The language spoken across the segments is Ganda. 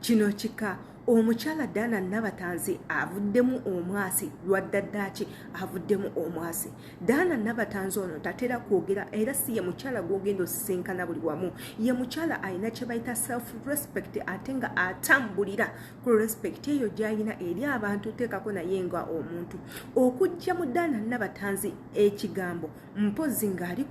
kino kika omukyala dana nabatanzi avuddemu omwasi lwaddaddaki avuddemu omwasi dana nabatanzi ono tatera kwogera era si ye mukyala gwogenda osisinkana buli wamu ye mukyala alina kyebayita self respect ate nga atambulira ku respect eyo gyayina eri abantu teekako naye nga omuntu okujja mu dana nabatanzi ekigambo mpozi ng'ali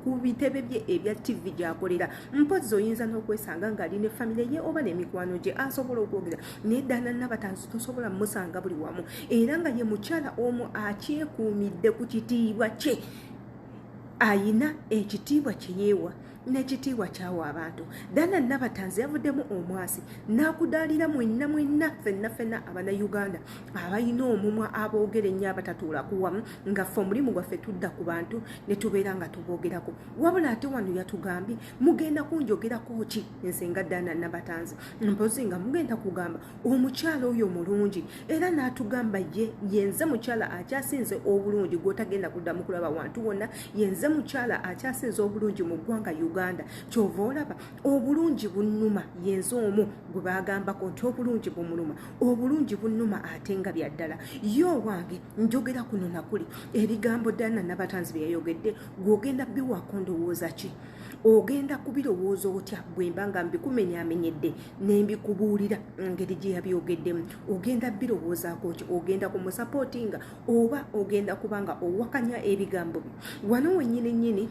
ku bitebe bye ebya ttivi gy'akolera mpozi oyinza n'okwesanga ng'ali ne famire ye oba n'emikwano gye asobola okwogera naye ddala nabatanzi tosobola musanga buli wamu era nga ye mukyala omu akyekuumidde ku kitiibwa kye ayina ekitiibwa kye yeewa n'ekitiibwa kyawa abantu dana nabatanzi yavuddemu omwasi n'akudaalira mwenna mwenna fenna fenna abanayuganda abalina omumwa aboogera ennyo abatatuulaku wamu nga ffe omulimu gwaffe tudda ku bantu ne tubeera nga tuboogerako wabula ate wano yatugambye mugenda kunjogerako ki nze nga dana nabatanzi mpozi nga mugenda kugamba omukyala oyo mulungi era n'atugamba ye yenze mukyala akyasinze obulungi gwotagenda kuddamu kulaba wantu wonna yenze mukyala akyasinze obulungi mu ggwanga uganda kyova olaba obulungi bunuma yenze omu gwe bagambako nti obulungi bumunuma obulungi bunuma ate nga byaddala ye owange njogera kuno nakuli ebigambo dana nabatanzi bye yayogedde gwogenda biwaako ndowooza ki ogenda kubirowooza otya bwemba nga mbikumenyamenyedde nembikubuulira ngeri gye yabyogeddemu ogenda birowoozaako ki ogenda ku musapootinga oba ogenda kuba nga owakanya ebigambo bye wano wenyini nyini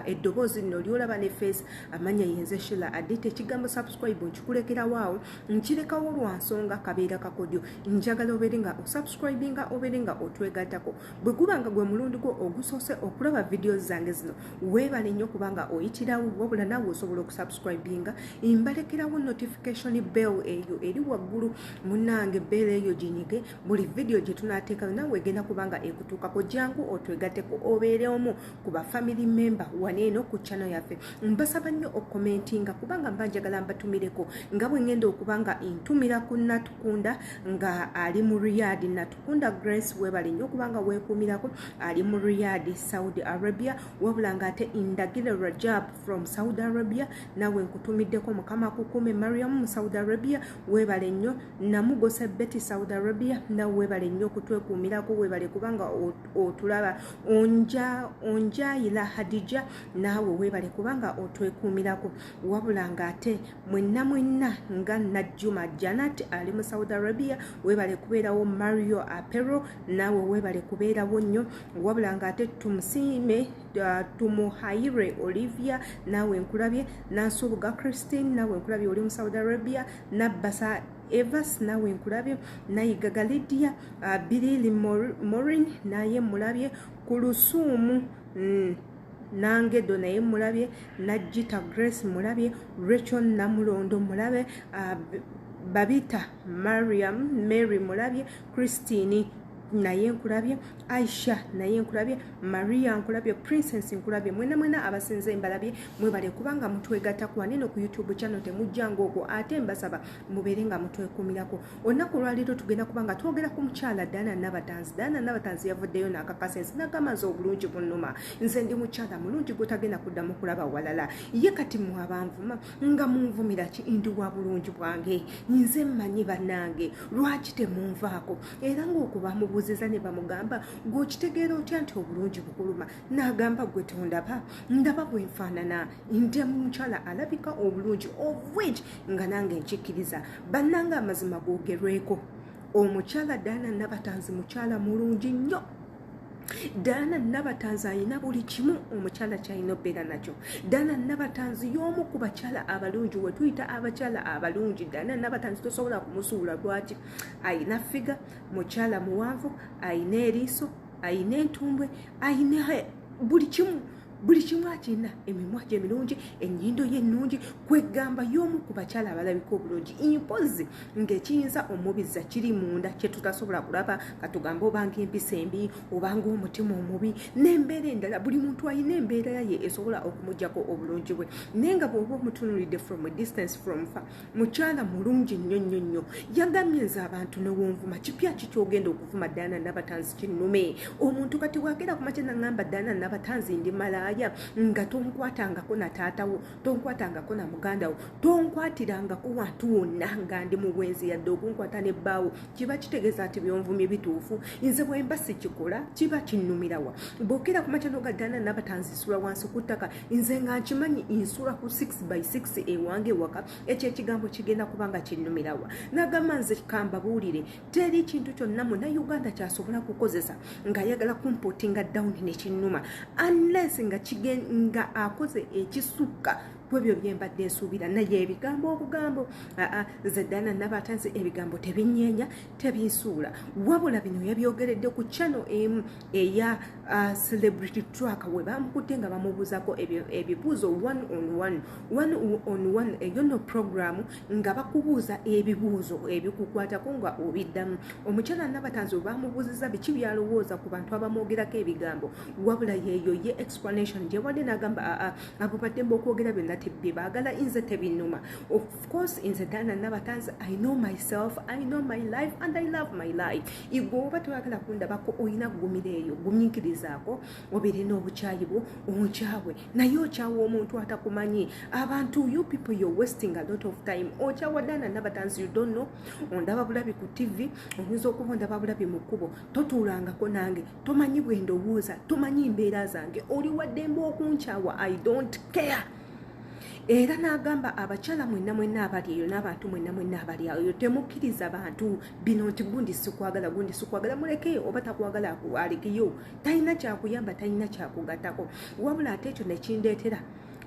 eddoboozi lino lyolaba ne feesi amanya yenze shila adite ekigambo subscribe nkikulekerawo awo nkirekawo lwa nsonga kabeera kakodyo njagala obeere nga osubscribinga obeere nga otwegatako bwe guba nga gwe mulundi gwo ogusoose okulaba vidiyo zange zino weebale nnyo kubanga oyitirawo wabula naawe osobola okusubscribinga mbalekerawo notification bell eyo eri waggulu munange bell eyo ginyige buli vidiyo gye tunaateekayo naawe egenda kubanga ekutuukako jangu otwegateko obeere omu ku bafamily member waneeno ku chano yaffe mbasaba nnyo okukomentinga kubanga mba njagala mbatumireko nga bwe ngenda okuba nga ntumira ku natukunda nga ali mu riyadi natu Kunda Grace webale nnyo kubanga weekuumirako ali mu Riyadh Saudi Arabia wabula nga ate Ndagire Rajab from Saudi Arabia nawe nkutumiddeko mukama kukuume Mariam mu Saudi Arabia webale nnyo namugose Betty Saudi Arabia nawe webale nnyo okutwekuumirako webale kubanga otulaba onja onjayila Hadija naawe webale kubanga otwekuumirako wabula nga ate mwenna mwenna nga najjuma janat ali mu saudi arabia webale kubeerawo mario apero naawe webale kubeerawo nnyo wabula nga ate tumusiime uh, tumuhaire olivia naawe nkulabye nansubuga christine naawe nkulabye oli mu saudi arabia nabbasa evas nawe nkulabye nayigaga lidia uh, bilili morin naye mulabye ku lusuumu mm. nange do naye mulabye najjita grace mulabye recho namulondo mulabe uh, babita mariam mary mulabye christine naye nkulabye aisha naye nkulabye maria nkulabye princess nkulabye mwena mwena abasinze mbalabye mwebale kubanga mutwegatako waneno ku youtube channel temujjanga okwo ate mbasaba mubeere nga mutwekumirako olunaku olwaleero tugenda kuba nga twogera ku mukyala daana nabatanzi daana nabatanzi yavuddeyo nakakasa ensi nagamba nze obulungi bunuma nze ndi mukyala mulungi gwetagenda kuddamu kulaba walala ye kati mwabanvuma nga munvumira ki ndi wa bulungi bwange nze mmanyi bannange lwaki temunvaako era ngaokubamubuuziza ne bamugamba gweokitegeera otya nti obulungi bukuluma nagamba gwe tondaba ndaba bwenfaanana ndi mukyala alabika obulungi of which nga nange nkikkiriza bannanga amazima googerweko omukyala daana nabatanzi mukyala mulungi nnyo daana nabatanzi alina buli kimu omukyala kyalina obeera nakyo daana nabatanzi y'omu ku bakyala abalungi wetuyita abakyala abalungi daana nabatanzi tosobola kumusuula lwaki alina figa mukyala muwanvu alina eriiso alina entumbwe alina buli kimu buli kimu akirina emimwa gye mirungi ennyindo ye ennungi kwegamba y'omu ku bakyala abalabika obulungi impozi ng'ekiyinza omubiza kiri munda kye tutasobola kulaba nga tugamba obanga empisa embi obanga omutima omubi n'embeera endala buli muntu alina embeera ye esobola okumugyako obulungi bwe naye nga bw'oba omutunulidde from a distance from far mukyala mulungi nnyo nnyo nnyo yagambye nze abantu newonvuma kipya ki kyogenda okuvuma daana nabatanzi kinnume omuntu kati bwagenda kumakya nangamba daana nabatanzi ndi malaaya nga tonkwatangako na taatawo tonkwatangako na mugandawo tonkwatirangako wantu wonna nga ndi mu bwenzi yadde okunkwata ne bbaawo kiba kitegeeza nti byonvumye bituufu nze bwemba sikikola kiba kinnumirawa bwogenda kumakya noga daana nabatanzi sula wansi ku ttaka nze nga nkimanyi nsula ku 6 by 6 ewange waka ekyo ekigambo kigenda kuba nga kinnumirawa nagamba nze kambabuulire teri kintu kyonna muna uganda kyasobola kukozesa ngaayagala kumpotinga down nekinnuma unless nga kigenga akoze ekisukka kwebyo byembadde nsuubira naye ebigambo obugambo zedana nabaata nze ebigambo tebinyeenya tebinsuula wabula bino yabyogeredde ku channel emu eya uh, celebrity track we bamukutte nga bamubuuzako ebibuuzo one on one one on one eyo no programu nga bakubuuza ebibuuzo ebikukwatako nga obiddamu omukyala nabatanzi bamubuuziza biki byalowooza ku bantu abamwogerako ebigambo wabula yeeyo ye explanation gyewadde nagamba aa ah, ah, abo baddemba okwogera byonna tebye baagala inze tebinuma of course inze dana nabatanzi i know myself i know my life and i love my life igwe oba toyagala kundabako olina kugumira eyo guminkirizaako obirina obukyayi bwo onkyawe naye okyawa omuntu atakumanyi abantu you people you're wasting a lot of time okyawa dana nabatanzi you don't know ondaba bulabi ku tv oyinza okuba ondaba bulabi mu kkubo totuulangako nange tomanyi bwendowooza tomanyi mbeera zange oli waddembe okunkyawa i don't care era n'agamba abakyala mwenna mwenna abali eyo n'abantu mwenna mwenna abali eyo temukkiriza bantu bino nti gundi sikwagala gundi sikwagala muleke oba takwagala alekeyo talina kyakuyamba talina kyakugatako wabula ate ekyo nekindeetera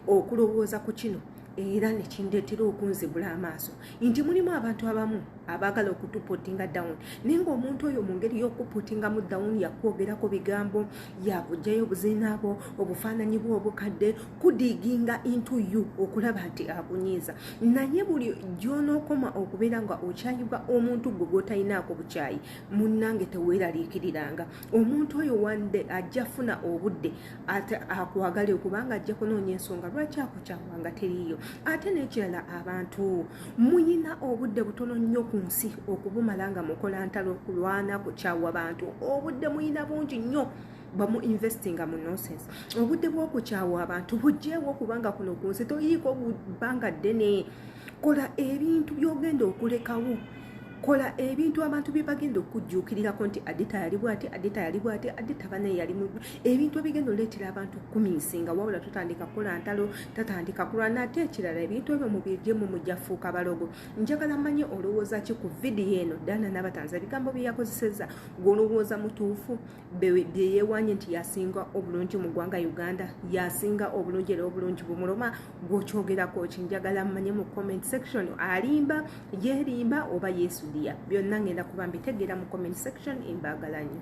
okulowooza ku kino era nekindeetera okunzibula amaaso nti mulimu abantu abamu abaagala okutupotinga down naye ngaomuntu oyo mu ngeri y'okupotingamu down yakwogerako bigambo yakuggyayo obuziina bwo obufaananyi bwo obukadde kudiginga into you okulaba nti akunyiiza naye buli gyonookoma okubeera nga okyayibwa omuntu gwe gwotalinaako bukyayi munnange teweeraliikiriranga omuntu oyo wande ajja funa obudde ate akwagale kubanga ajja kunoonya ensonga lwaki akukyawanga teriiyo ate n'ekirala abantu muyina obudde butono nnyo ku nsi okubumala nga mukola ntalo kulwana kukyawa bantu obudde muyina bungi nnyo bamu investinga mu nonsense obudde bwokukyawa abantu bujjeewo kubanga kuno ku nsi toyiiko bbanga ddene kola ebintu byogenda okulekawo kola ebintu abantu bye bagenda okujjuukirirako nti adita yali bwati adita yali bwati adita banaye yali ebintu ebigenda oleetera abantu okukuminsinga wabula tutandika kukola ntalo tatandika kulwana ate ekirala ebintu ebyo mubiryemu mujjafuuka balogo njagala manye olowooza ki ku vidiyo eno dana nabatanza ebigambo bye yakozeseza gweolowooza mutuufu byeyewanye nti yasinga obulungi mu ggwanga uganda yasinga obulungi era obulungi bumuloma gwokyogerako ki njagala mmanye mu comment section alimba yerimba oba yesudiya byonna ngenda kuba mbitegeera mu comment section embagalanyo